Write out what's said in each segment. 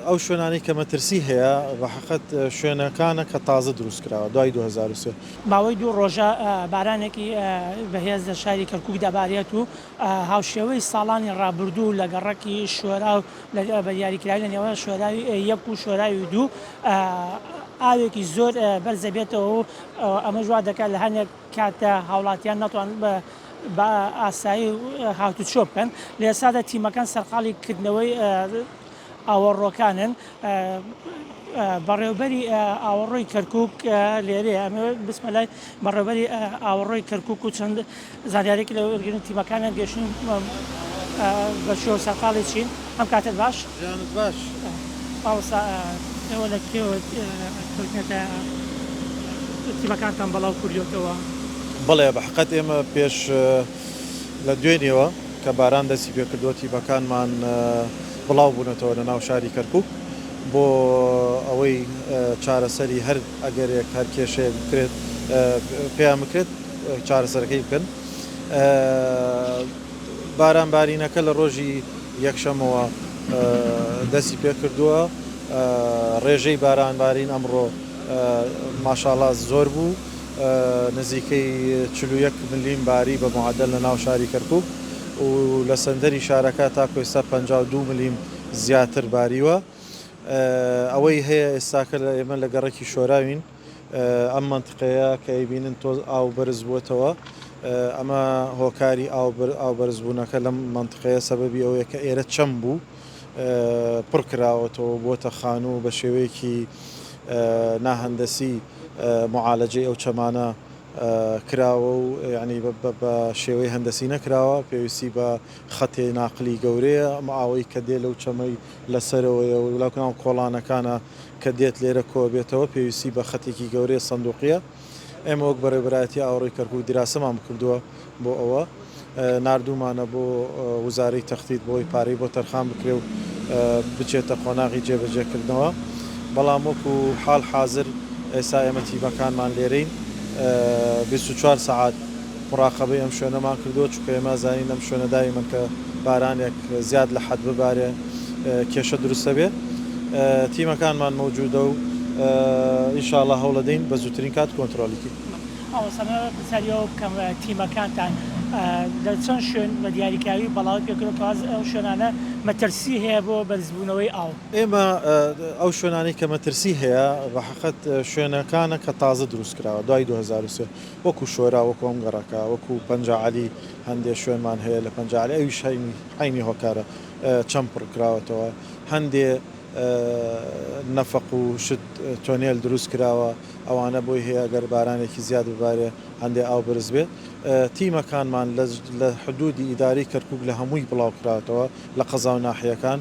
ئەو شوێنانەی کە مەترسی هەیە بەحەقەت شوێنەکانە کە تازە دروست کراوە دوای دوو هەزار و سێ. ماوەی دوو ڕۆژە بارانێکی بەهێز لە شاری کەرکووک دەبارێت و هاوشێوەی ساڵانی ڕابردوو لە گەڕەکی شۆراو بە دیاریکراوی لە نێوان شۆراوی یەک و شۆراوی دوو ئاوێکی زۆر بەرز دەبێتەوە و ئەمەش وا دەکات لە هەندێک کات هاوڵاتیان نەتوان بە ئاسایی هاتوچۆ بکەن. لە ئێستادا تیمەکان سەرقاڵی کردنەوەی ئاوەڕۆکانن. بەڕێوبەری ئاوەڕۆی کەرکوک لێرەیە ئەمەوێ بچمە لای بەڕێوبەری ئاوەڕۆی کەرکوک و چەند زانیارێکی لە وەرگرن تیمەکانیان گەشتن بە شێوە سەرقاڵی چین ئەم کاتت باش باش مامۆستا ئێوە لە کێوە کەوتنێتە تیمەکانتان بەڵاو کوردیەوەتەوە؟ بەڵێ بەحقەت ئێمە پێش لە دوێنێوە. کە باران دەستی پێکردووە تیپەکانمان بڵاوبوونەتەوە لە ناو شاری کەرکوک بۆ ئەوەی چارەسەری هەر ئەگەرێک هەر کێشەیەک بکرێت پێیان بکرێت چارەسەرەکەی بکەن باران بارینەکە لە ڕۆژی یەکشەمەوە دەستی پێکردووە ڕێژەی باران بارین ئەمڕۆ ماشاڵاز زۆر بوو. نزیکەی چل و یەک ملم باری بە معەدەل لە ناو شاری کەرکووک و لە سەنتەری شارەکە تاکو ئێستا پەنجا و دوو ملم زیاتر باریوە. ئەوەی هەیە ئێستاکە ئێمە لە گەڕەکی شۆراوین ئەم مەنتقەیە کە ئەیبینن تۆز ئاو بەرز بووەتەوە ئەمە هۆکاری ئاو بەرزبوونەکە لەم مەنتقەیە سەبەبی ئەوەیە کە ئێرە چەم بوو. پڕ کراوەتەوە و بووەتە خانوو و بە شێوەیەکی ناهەندەسی موعالەجەی ئەو چەمانە کراوە و یەعنی بە شێوەی هەندەسی نەکراوە پێویستی بە خەتێ ناقلی گەورەیە ئەم ئاوەی کە دێ لەو چەمەی لە سەرەوەیە و لەکناو کۆڵانەکانە کە دێت لێرە کۆ ئەبێتەوە پێویستی بە خەتێکی گەورەیە سەندوقیە. ئێمە وەک بەڕێوبەرایەتی ئاوەڕۆی کەرکوک دیراسەمان بکردووە بۆ ئەوە ناردوومانە بۆ وزارەی تەختیت بۆی پارەی بۆ تەرخان بکرێ و بچێتە قۆناغی جێبەجێکردنەوە بەڵام وەکو حاڵ حازر ئێستا ئێمە تیمەکانمان لێرەین 24 سەعات موراقەبەی ئەم شوێنەمان کردووە، چونکە ئێمە ئەزانین ئەم شوێنە دایمەن کە بارانێک زیاد لە حەد ببارێ کێشە دروست ئەبێ. تیمەکانمان مەوجودە و ان شاء اللە هەوڵەدەین بە زووترین کات کۆنترۆڵی کەین. مامۆستا من پرسیاری ئەوە بکەم تیمەکانتان لە چەند شوێن بە دیاریکراوی بەڵاوەی پێکردووە کەواز ئەو شوێنانە مەترسی هەیە بۆ بەرزبوونەوەی ئاو؟ ئێمە ئەو شوێنانەی کە مەترسی هەیە بە حەقت شوێنەکانە کە تازە دروست کراوە دوای دوو هەزار و سێ، وەکو شۆرا وەکو ئەم گەڕەکە وەکو پەنجا عەلی هەندێ شوێنمان هەیە لە پەنجا عەلی ئەویش هەینی عەینی هۆکارە چەم پڕ کراوەتەوە هەندێ نەفەق و شت تۆنێل دروست کراوە ئەوانە بۆی هەیە گەر بارانێکی زیاد ببارێ هەندێ ئاو بەرز بێ تیمەکانمان لە حدودی ئیدارەی کەرکوک لە هەمووی بڵاو کراوەتەوە لە قەزاو ناحیەکان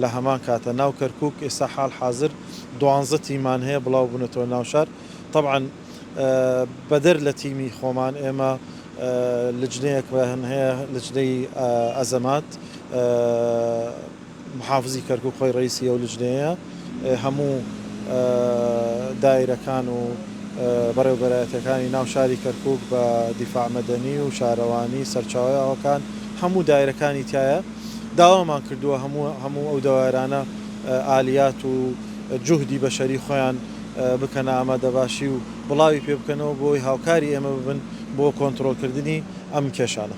لە هەمان کاتە ناو کەرکوک ئێستا حال حازر دوانزە تیممان هەیە بڵاو بونەتەوە ناو شار طبعا بەدەر لە تیمی خۆمان ئێمە لجنەیەکمان هەیە لجنەی ئەزەمات محافزی کەرکوک خۆی ڕیسی ئەو لجنەیە هەموو دایرەکان و بەڕێوبەرایەتەکانی ناو شاری کەرکوک بە دیفاع مەدەنی و شارەوانی سەرچاوی ئاوەکان هەموو دایرەکانی تایە داوامان کردووە هەموو هەموو ئەو دەوایرانە ئالیات و جوهدی بەشەری خۆیان بکەنە ئامادەباشی و بڵاوی پێ بکەنەوە بۆی هاوکاری ئێمە ببن بۆ کۆنترۆڵ کردنی ئەم کێشانە.